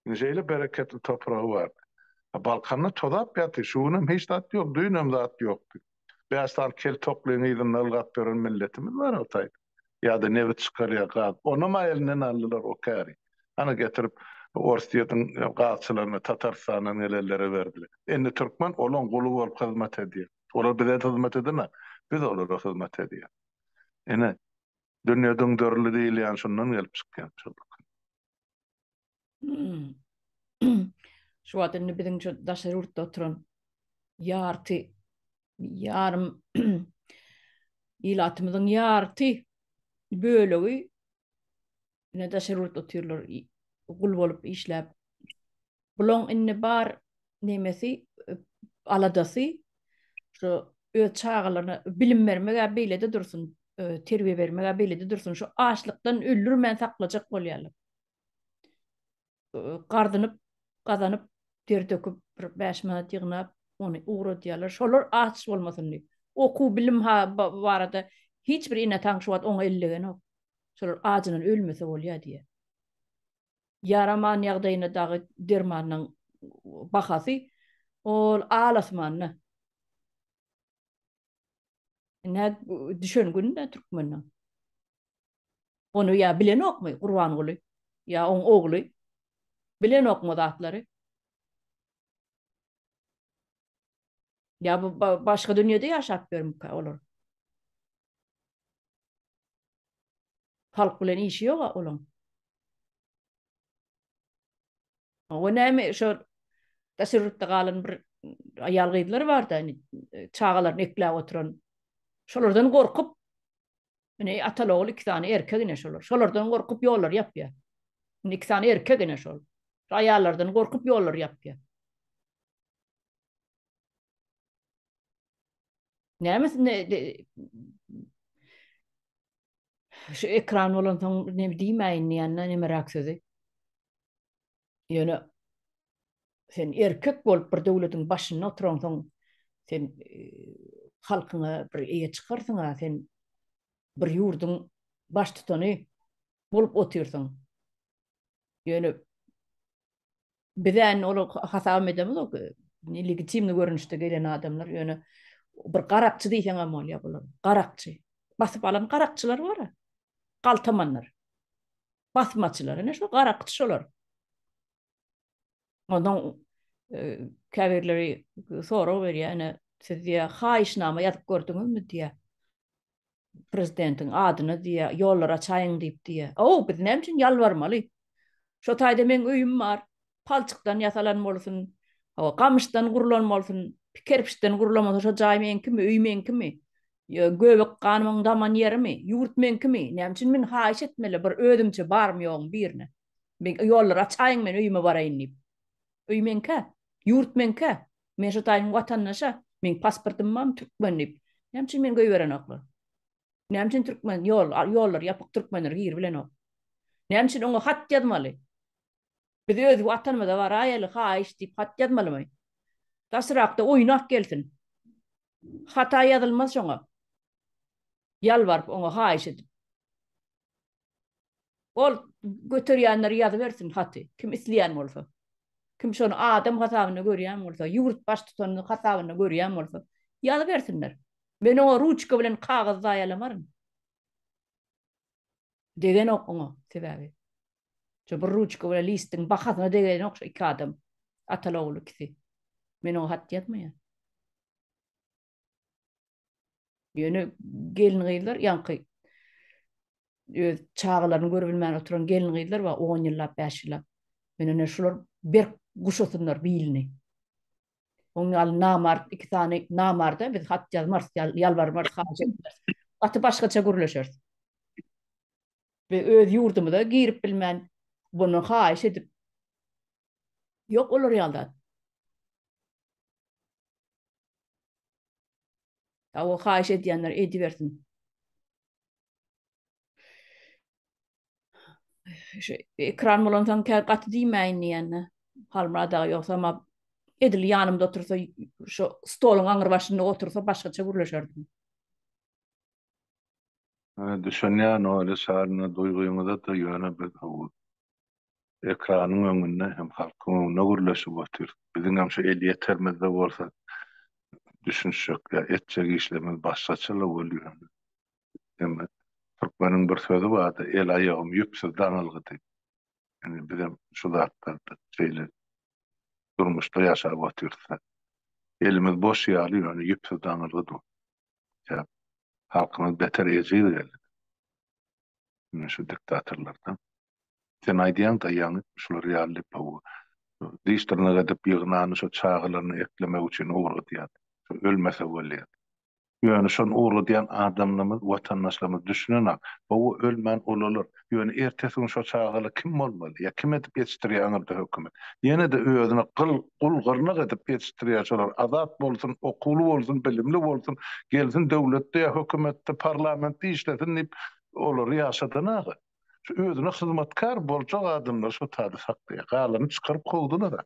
Speaker 2: Indi şeýle bereketli topragy bardy. A Balkanda tozap ýaty, şu günem hiç zat ýok, düýnem zat ýokdy. Bäş sany kel toklyň yzynda ylgap ýören milletimiz bar Hytaýda. Ýa-da nebit çykarýar, gaz. Onam-a elinden aldylar o käri. Hany getirip Orsýetiň gazçylaryna, Tatarstandan gelenlere berdiler. Indi türkmen olaň guly bolup hyzmat edýär. Olar bize hyzmat edemä, biz olara hyzmat edýäs. Ine, dünýe düňderildi diýilýäni şundan gelip çykýar.
Speaker 1: Şu wagt indi biziň şu daşary ýurtda oturan ýarty ýarym ilatymyzyň ýarty bölegi ine daşary ýurtda otyrlar gul bolup işläp Bulaň indi bar nemesi aladasy şu öz çagalaryna bilim bermeg-ä beýlede dursun, terbiýe bermeg-ä beýlede dursun, şu açlykdan öldürmän saklajak bolýarlar. Gardynyp, gazanyp, ter döküp, bir bäş manat ýygnap, ony ugradýarlar. Şolar aç bolmasyn diýip. Okuw, bilim barada hiç bir ene-ata şu wagt oňa ellegenok. Şolar ajyndan ölmese bolýar diýýär. ýaraman ýagdaýynda dagy dermanynyň bahasy ol al-asmanda. Ine, düşen gün-dä türkmeniň. Ony ýa bilenokmy Gurbanguly, ýa oň ogly? Bilenokmy o zatlary? Ýa bu başga dünýede ýaşap ýörmükä olar? Halk bilen işi yok a olaň. O näme şu daşary ýurtda galan bir aýal gyzlar bar da, çagalaryny ekläp oturan. Şolardan gorkup, ine ataly ogul iki sany erkek ine şolar. Şolardan gorkup ýollary ýapýar. Indi iki sany erkek ine şol. Aýallardan gorkup ýollary ýapýar. Näme Şu ekran bolan soň ne diýmäýin diýende nemeräk sözi. Ýöne sen erkek bolup bir döwletiň başynda oturan soň sen e, halkyňa bir eýe çykarsyň ha sen bir ýurduň baş tutany bolup otyrsyň. Ýöne Biz indi ol hasabam edemizok. Legitimni görnüşde gelen adamlar ýöne bir garakçy diýseň hem bolýar bular. Garakçy. Basyp alan garakçylar bar. Galtamanlar. Basmaçylar. Ine şu garakçy şolar. Ondan e, käbirleri sorag berýär, ine siz diýä haýyşnama ýazyp gördüňizmi diýä. prezidentiň adyna diýýär, ýollar açaýyň diýip diýýär. Aw, biz näme üçin ýalbarmaly? Şo taýda meň öýüm bar, palçykdan ýasalan bolsun, hawa, gamyşdan gurlan bolsun, kerpiçden gurlan bolsun, şo jaý meňkimi, öý meňkimi? Ýa göbek ganymyň daman ýerimi? Ýurt meňkimi? Näme üçin men haýyş etmeli bir özümçe barymy-ýogumy birine? Ýollary açaýyň, men öýüme baraýyn diýip. Öý meňkä? Ýurt meňkä? Men şo taýyň watandaşa, meň pasportym bar, türkmen diýip. Näme üçin meni goýberenoklar? Näme üçin türkmen ýol, ýollar ýapyk, türkmenler giribilenok? Näme üçin oňa hat ýazmaly? Biz öz watanymyza baraýaly, haýyş diýip hat ýazmalymy? Daşrakda oýnak gelsin. Hata ýazylmaz şoňa. Ýalbaryp oňa haýyş edip. Ol göterýänler ýazybersin haty, kim isleýän bolsa. Kim şony adam hasabynda görýän bolsa, ýurt baştutany hasabynda görýän bolsa, ýazybersinler. Men oňa ruçka bilen kagyz zaýalamaryn. Degenok oňa, sebäbi şo bir ruçka bilen listiň bahasyna degenok şo iki adam, ataly-ogul ikisi. Men oňa hat ýazmaýan. Ýöne gelin-gyzlar ýaňky öz çagalaryny görüp bilmän oturan gelin-gyzlar bar, on ýyllap, bäş ýyllap. Ýöne şular berk guşasynlar bilini. Oň ýaly namart, iki sany namarda biz hat ýazmarys, ýalbarmarys, haýyş etmeris. Gaty başgaça gürleşeris. Biz öz ýurdumyza girip bilmän, bunu haýyş edip, ýok olar ýaly zat. Hawa haýyş edýänler edibersin. Şu ekran bolan soň kä gaty diýmäýin diýende. Halmyrat aga ýogsa ma edil ýanymda otursa şu stoluň aňyr başynda otursa başgaça gürleşerdim. Düşünýän Olýa
Speaker 2: Şalyna duýgyňyza-da ýöne biz howul. ekranyň öňünde hem halkyň öňünde gürleşip otyrys. Biziňem şu elýetermizde bolsa düşünişjek ýa etjek işlerimiz başgaça-la bolýar. Indi türkmeniň bir sözi bardy, El aýagym ýüpsüz daňylgy diýip. Indi bizem şu zatlarda şeýle durmuşda ýaşap otyrys-da. Elimiz boş ýaly, ýöne ýüpsüz daňylgy dur. Sebäp halkymyz beter ejiz geldi. Indi şu diktatorlardan Sen aýdýaň daýaň etmiş şular ýaly lepowy. Diş dyrnak edip ýygnany şo çagalaryny eklemek üçin ugradýar. Şo ölmese bolýar. Ýöne şony ugradýan adamlarymyz watandaşlarymyz düşünenok. Howa ölmän ulalar. Ýöne ertesi gün şo çagala kim bolmaly? Ýa kim edip ýetişdirýär aňyrda hökümet. Ýenede özüne gyl gul gyrnak edip ýetişdirýär şolar azat bolsun okuwly bolsun bilimli bolsun gelsin döwletde ýa hökümetde parlamentde işlesin diýip olary ýaşadan aga. Şu özüne hyzmatkär boljak adamlar şo taýda saklaýar. Galany çykaryp kowdular-a.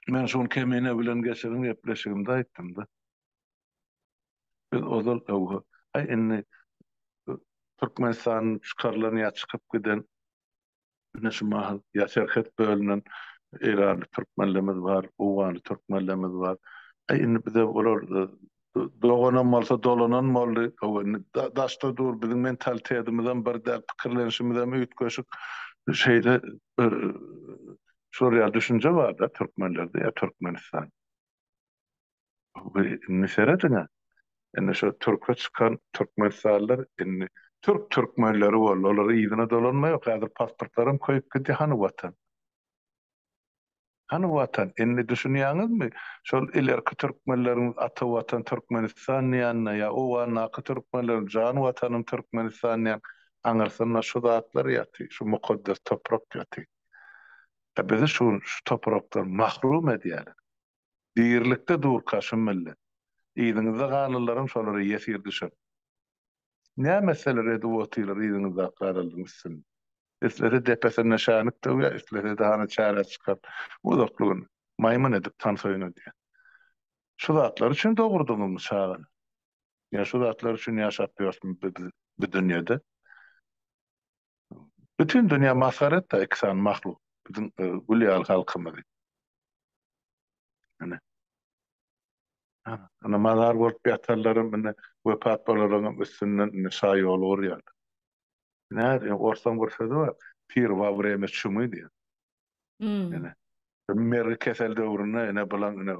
Speaker 2: Men şu gün Kemine bilen geçiren gepleşigimde aýtdym-da. Biz ozal öwho, aý indi Türkmenistanyň çykarylan ýa çykyp giden Ine şu mahal ýa serhet bölünen eýranly türkmenlerimiz bar, owganly türkmenlerimiz bar. Äý indi bize olar doganam bolsa dolanan boldy. Hawa indi daşda dur biziň mentalitetimizem bir däl, pikirlenişimizem üýtgeşik. Şeýle bir şor ýaly düşünje bar-da türkmenlerde ýa Türkmenistan. Bi indi serediň-ä. Indi şo türke çykan türkmenistanlylar indi türk türkmenleri boldy. Olar yzyna dolanma ýok. Häzir pasportlaram köýüp gidýär. Hany Watan? Hany Watan? Indi düşünýäňizmi? Şol ilerki türkmenleriň ata Watan Türkmenistan diýenine ýa owgandaky türkmenleriň jan Watanym Türkmenistan diýen aňyrsynda şu zatlar ýatyr. Şu mukaddes toprak ýatyr. Bizi şu şu toprakdan mahrum edýärler. Birlikde durka şu millet. Yzyňyzda galanlaram şolara ýesir düşer. Näme etseler edip otyrlar yzyňyzdaky galanlaryň üstünde. Islese depesinde şänik döwýär, islese-de hany çärä çykar. Uzakly gün. Maýmyn edip tans oýnadýar. Şu zatlar üçin dogurdyňyzmy çagany? Ýa şu zatlar üçin ýaşap ýörsüňiz bu dünýede? Bütin dünýä masgara etdi iki sany mahluk biziň gül ýaly halkymyzy. Ine. Ana mazar bolup ýatarlaram indi wepat bolalaram üstünden indi şa ýol gurýarlar. Nädip orsaň bir sözi bar, Pir wa vremya çumy diýen. Ene, mergi kesel döwründe ene bilen ene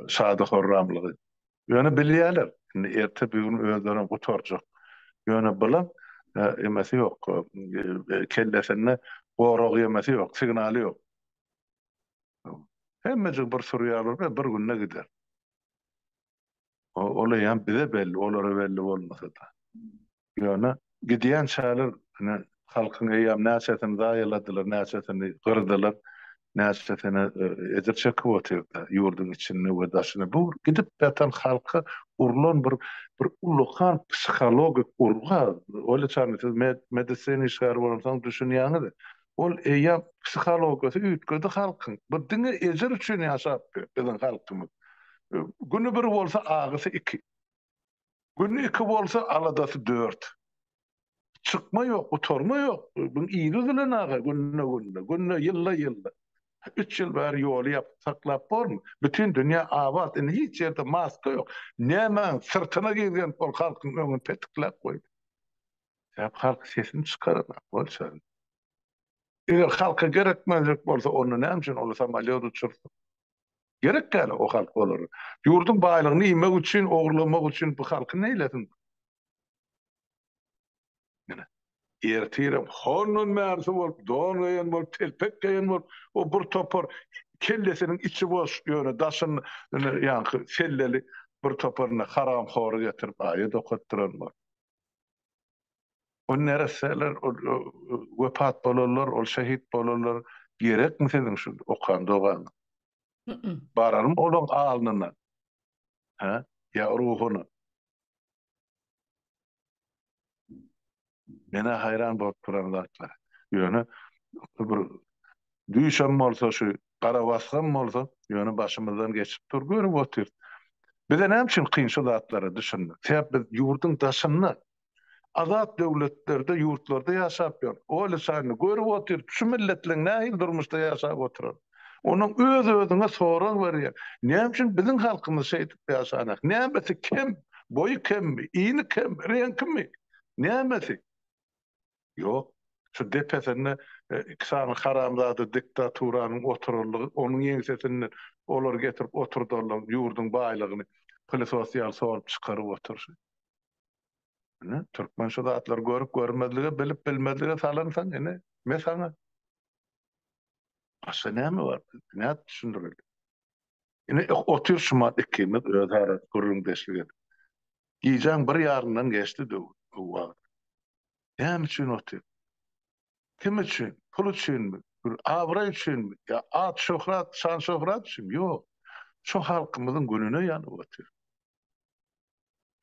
Speaker 2: şady-horramlygy. Ýöne bilýärler, indi erte-bigün özlerem gutarjak. Ýöne bilen emesi ýok, kellesinde gorag ýemesi ýok, signaly ýok. Hemmejik bir surýarlar we bir günde gider. Ol eýýäm bize belli, olara belli bolmasa-da. Ýöne gidýän çärler ine, halkyň eýýäm näçesini zaýaladylar, näçesini gyrdylar, näçesine ejir çekip otyr-da, ýurduň içinde we daşynda. Bu gidip ýatan halka urlan bir ullakan psihologik urgy-a. Oýlasaňyz, siz medisina işgäri bolansoň düşünýäňiz. Ol eýýäm psihologiýasy üýtgedi halkyň. Bir diňe ejir üçin ýaşapdy biziň halkymyz. Güni bir bolsa agysy iki. Güni iki bolsa aladasy dört. Çykma ýok, gutarma ýok. Biziň il üzülen aga günde-günde, günde ýylda-ýylda. Üç ýyl bäri ýoly ýapyp saklap bormy? Bütin dünýä abat, indi hiç ýerde maska ýok. Nämäň syrtyna gizlenip ol halkyň öňüni petikläp goýdy. Sebäbi halk sesini çykaranok, bolçaly. Eger halka gerekmezlik bolsa, onda näme üçin olar samolýot uçursun? Gerek däl-ow halka olar. Ýurduň baýlygyny iýmek üçin, ogurlamak üçin bu halky neýlesin? Ine, ertirem hondan märsi bolup, don geýen bolup, telpek geýen bolup, o bir topar kellesiniň içi boş, ýöne daşyny ýaňky selleli bir topar indi haramhory getirip aýat okatdyran bolup. Ol neresseler ol wepat bolanlar ol şehit bolanlar gerekmi siziň şu okan dogaňyz. Bararmy olaň alnyna. He ýa ruhyna. Menä haýran bolup duran zatlar. Ýöne bir Düýşem bolsa şu garabasgam bolsa ýöne başymyzdan geçip dur görüp otyrys. Bize näme üçin kyn şu zatlara düşünmek. Sebäp biz ýurduň daşynda azat döwletlerde ýurtlarda ýaşap ýörüs. Oly şaýyny görüp otyrys şu milletleň nähili durmuşda ýaşap oturan. Onuň öz özüňe sorag berýär. Näme üçin biziň halkymyz şeýdip ýaşanok. Nämesi kem? Boýy kemmi? Ýyny kemmi? Reňkimi? Nämesi? Ýok. Şu depesinde iki sany haramzada diktaturanyň oturanlygy, onuň ýeňsesinde olary getirip oturdanlygy, ýurduň baýlygyny pylysos ýaly sorup çykaryp oturyşy. Ine, türkmen şu zatlary görüp görmezlige, bilip bilmezlige salansoň, ine, me saňa. Başga näme bar? Nädip düşündireli? Ine, otyr şumat ikimiz özara gürrüňdeşlik edip. Gijäň bir ýarymdan geçdi döwür, bu wagt. Näme üçin otyr? Kim üçin? Pul üçinmi? Bir abraý üçinmi? Ýa at-şöhrat, şan-şöhrat üçinmi? Ýok. Şu halkymyzyň gününe ýanyp otyr.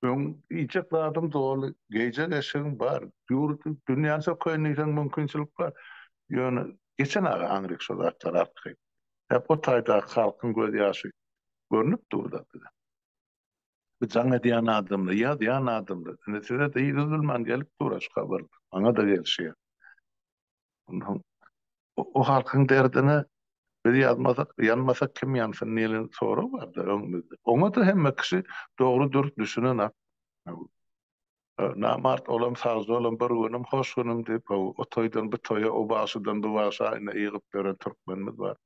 Speaker 2: Öň iýjek zadyň doly, geýjek eşigiň bar. Ýurdy, dünýäni sökeýin diýseň mümkinçilik bar. Ýöne geçen aga aňryk şo zatlary artgaýtdy. Hep o taýdaky halkyň gözýaşy görnüp dur-da bize. Bu jaň edýän adamlar, ýazýan adamlar. Indi size-de üzülmän gelip dur şu habar. Maňa-da gelişýär. Onsoň o halkyň derdine biz ýazmasak, ýanmasak kim ýansyn diýlen sorag bar-da öňümizde. Oňa-da hemme kişi dogry-dürs düşünenak. Namart olam sagjalam bir günüm hoş günüm diýip how o toýdan bu toýa o bagşydan bu bagşa ine ýygyp ýören türkmenimiz bar.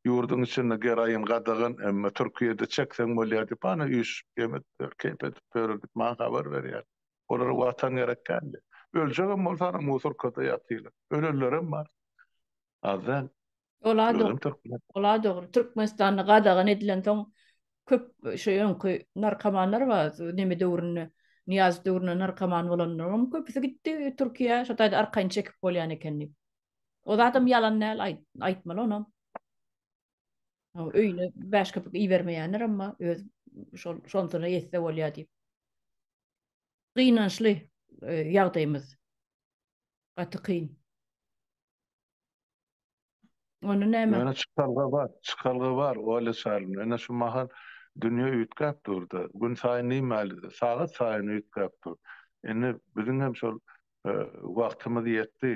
Speaker 2: Ýurdyň içinde geroin gadagan emma Türkiýede çekseň bolýar diýip ana üýşüp ýem edipler keýp edip ýörür diýip maňa habar berýär. Olara watan gerek däldi. Öljegem bolsa ana musurkada ýatylar. Ölenlerem bar. Az däl. Ola
Speaker 1: Ola
Speaker 2: dogry. Türkmenistanda
Speaker 1: gadagan edilen soň köp şu öňki narkomanlar bar. Neme döwründe, Niýaz döwründe narkoman bolanlaryň köpüsi gitdi Türkiýä. Şo taýda arkaýyn çekip bolýan eken diýip. O zadam ýalan däl, aýtmaly onam. Öýüne bäş köpük ibermeýänler emma öz şol şonsyna ýetse bolýar diýip. Gynançly ýagdaýymyz. Gaty kyn. Ony näme? Ýöne çykalga bar,
Speaker 2: çykalga bar, Olýa Çarlin. Ýöne şu mahal dünýe üýtgäp dur-da, günsaýyn diýmäli, sagat saýyn üýtgäp dur. Indi biziň hem şol wagtymyz ýetdi,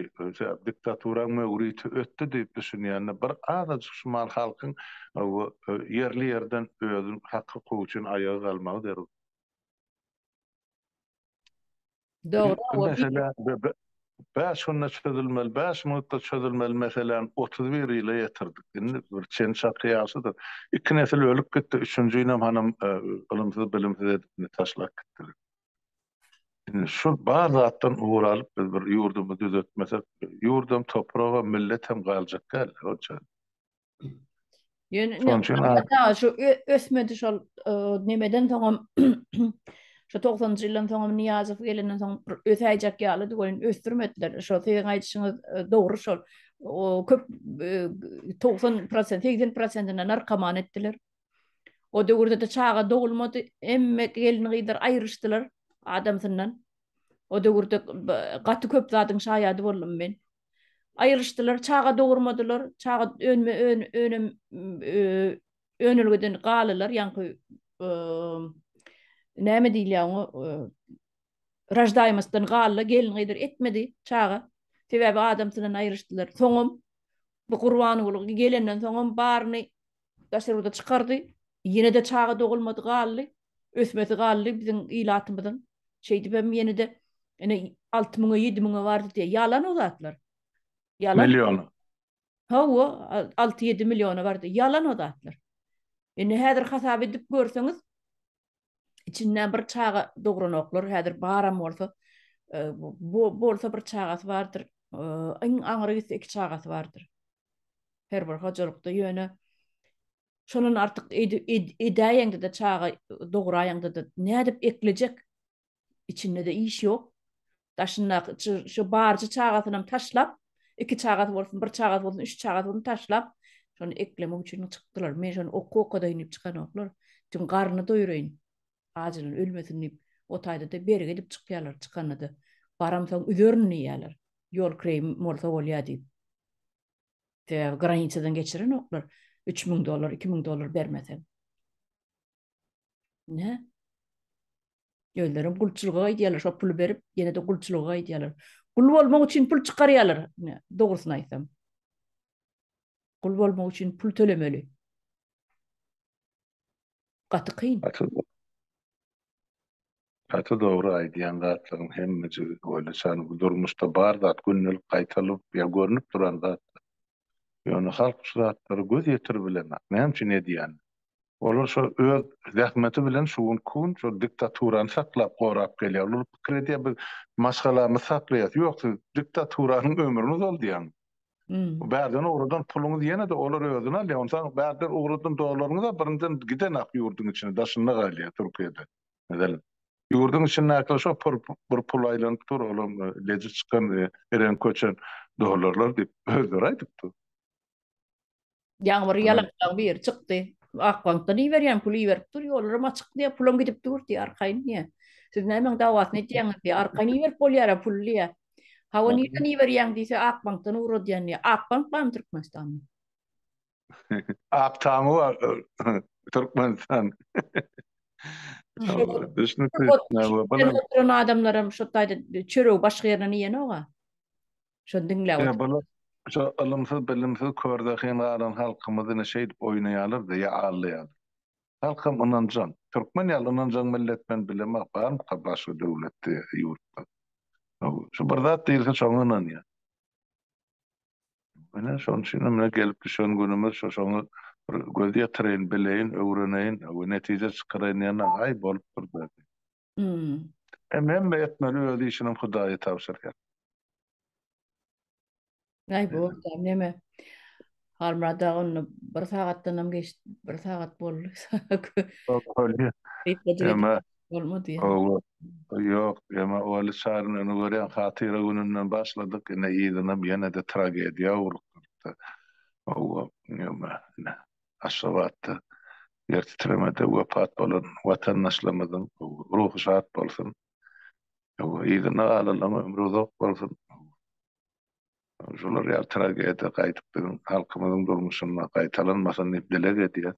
Speaker 2: diktaturaň möwriti ötdi diýip düşünýände, bir azajyk şu mahal halkyň ýerli-ýerden özüniň haky-hukugy üçin aýaga galmagy zerur.
Speaker 1: Dogry, oba mesele
Speaker 2: bäş günde çözülmeli, bäş minutda çözülmeli meseläni otuz bir ýyla ýetirdik. Indi bir çen çaky ýaşydyr. Iki nesil ölüp gitdi, üçünjinem hanam ylymsyz-bilimsiz edip taşlap gitdiler. Indi şu bar zatdan ugur alyp biz bir ýurdumy düzetmesek, ýurdam, topragam, milletem galjak däl-de, onçany.
Speaker 1: Ýöne indi şu ösmedi şol e, nemeden soňam şu 90-njy ýyldan soňam Niýazow gelenden soň bir ösäýjek ýalydy goýun ösdürmediler. Şo siziň aýdyşyňyz e, dogry şol. O köp 90%, e, 80%-ne narkoman etdiler. O döwürde de çaga dogulmady. Emme gelin gyzlar aýryşdylar adamsyndan. O döwürde gaty köp zadyň şaýady boldum men. aýrylyşdylar, çaga dogurmadylar, çaga önme ön önem önelgeden galylar, ýaňky näme diýilýär oňa, raždaýmostdan galylar, gelin-gyzdyr etmedi çaga, sebäbi adamsydan aýrylyşdylar. Soňam bu Gurbanguly gelenden soňam baryny Daşary ýurda çykardy. Ýene-de çaga dogulmady galdy. Ösmesi galdy biziň ilatymyzyň. Şeýdibem ýene-de ine alty müňe, ýedi müňe bardy diýýär. Ýalan o zatlar. Ýalan. Milliona.
Speaker 2: Hawa,
Speaker 1: alty-ýedi milliona bardy. Ýalan o zatlar. Indi häzir hasap edip görseňiz, içinden bir çaga dogranoklar häzir baram bolsa e, bu bolsa bir çagasy bardyr e, iň aňry gitse iki çagasy bardyr her bir hojalykda ýöne şondan artyk edäýeňde de çaga dograýaňda da nädip eklejek içinde-de iş ýok. Daşyndaky şu barjy çagasynam taşlap, iki çagasy bolsun, bir çagasy bolsun, üç çagasy bolsun taşlap, şony eklemek üçin çykdylar. Men şony oky okadaýyn diýip çykanoklar. Çünki garnyny doýuraýyn. Ajylan ölmesin diýip, o taýda-da bergi edip çykýarlar çykanda-da. Baramsoň üzerin diýýärler. Ýol kireýim bolsa bolýar diýip. Sebäbi granitadan geçirenoklar. Üç müň dollar, iki müň dollar bermesen. Ne? Özlerim gulçulga aýdýarlar, şo puly berip, ýene-de gulçulga aýdýarlar. Gul bolmak üçin pul çykarýarlar, dogrusyny aýtsam. Gul bolmak üçin pul tölemeli. Gaty kyn.
Speaker 2: Gaty dogry aýdýan zatlaryň hemmejigi. Oýlasaň, bu durmuşda bar zat gündelik gaýtalyp ýa görnüp duran zat. Ýöne halk şu zatlary göz ýetirip bilenok, näme üçin edýänini. Olar şo öz zähmeti bilen şu gün ku gün şol diktaturany saklap gorap gelýär. Olar pikir edýär biz maşgalamyzy saklaýas. Ýok siz diktaturanyň ömrüni uzaldýaňyz. Bärden ugradan puluňyz ýene-de olar özüne alýar. Onsaň bärden ugradan dollaryňyz-a birinden gidenak ýurduň içine daşynda galýar Türkiýede. Meselem, ýurduň içindäki şo pul bir pul aýlanyp dur, olam leji çykan, ereňki köçen dollarlar diýip, özleri aýdyp dur. Ýaňybir
Speaker 1: ýalakjaň biri çykdy, Akbankdan iberýän pul iberip dur, ýollaram açyk diýýär, pulam gidip dur diýýär, arkaýyn diýýär. Siz nämäň dawasyny edýäňiz diýýär, arkaýyn iberip bolýar-a puly diýýär. Hawa, nirden iberýäň diýse, Akbankdan ugradýan diýýär. Akbank barmy Türkmenistanda? Ak
Speaker 2: taňy bar Türkmenistan. Oturan
Speaker 1: adamlaram şo taýda çöregi başga ýerden iýenok-a. Şony diňläp oturan. Şo ylymsyz,
Speaker 2: bilimsiz, körzehin galan halkymyzy ine şeýdip oýnaýarlar-da ýa aldaýarlar. Halkam ynanjaň. Türkmen ýaly ynanjaň millet men bilemok, barmyka başga döwletde ýa ýurtda. Şu bir zat diýilse şoňa ynanýar. Ine, şonuň üçinem mine gelip düşen günümiz şu, şoňa bir göz ýetireýin, bileýin, öwreneýin we netije çykaraýyn diýende-aý, bolupdyr berdi. Hem hemme etmeli, öz işinem Hudaýa tabşyrýar.
Speaker 1: Aý, bu neme? Halmyrat-a onda bir sagatdanam geçdi, bir sagat boldy. Bolmady.
Speaker 2: Ýok, emma Oly Çaryny indi görýän hatyra gününden başladyk, ine yzynam ýene-de tragediýa urup durupdy. Hawa, emma ine Aşgabatda ýer titremede wepat bolan watandaşlarymyzyň ruhy şat bolsun. Hawa, yzyna galanlaryň ömri uzak bolsun. şular ýaly tragediýa gaýdyp biziň halkymyzyň durmuşynda gaýtalanmasyn diýip dileg edýäs.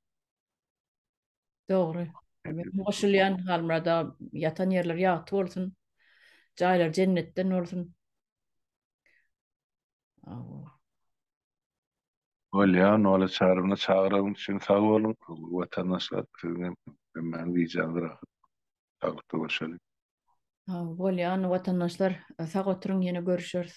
Speaker 2: Dogry.
Speaker 1: Men goşulýan Halmyrada ýatan ýerleri ýagty bolsun. Jaýlary jennetden bolsun.
Speaker 2: Bolýar, Nola çaryna çagyragyň üçin sag boluň. Watandaşlar siziň hem hemmäň gijäňiz rahat.
Speaker 1: Sagja
Speaker 2: görüşeli.
Speaker 1: Bolýan watandaşlar sag oturyň ýene görüşeris.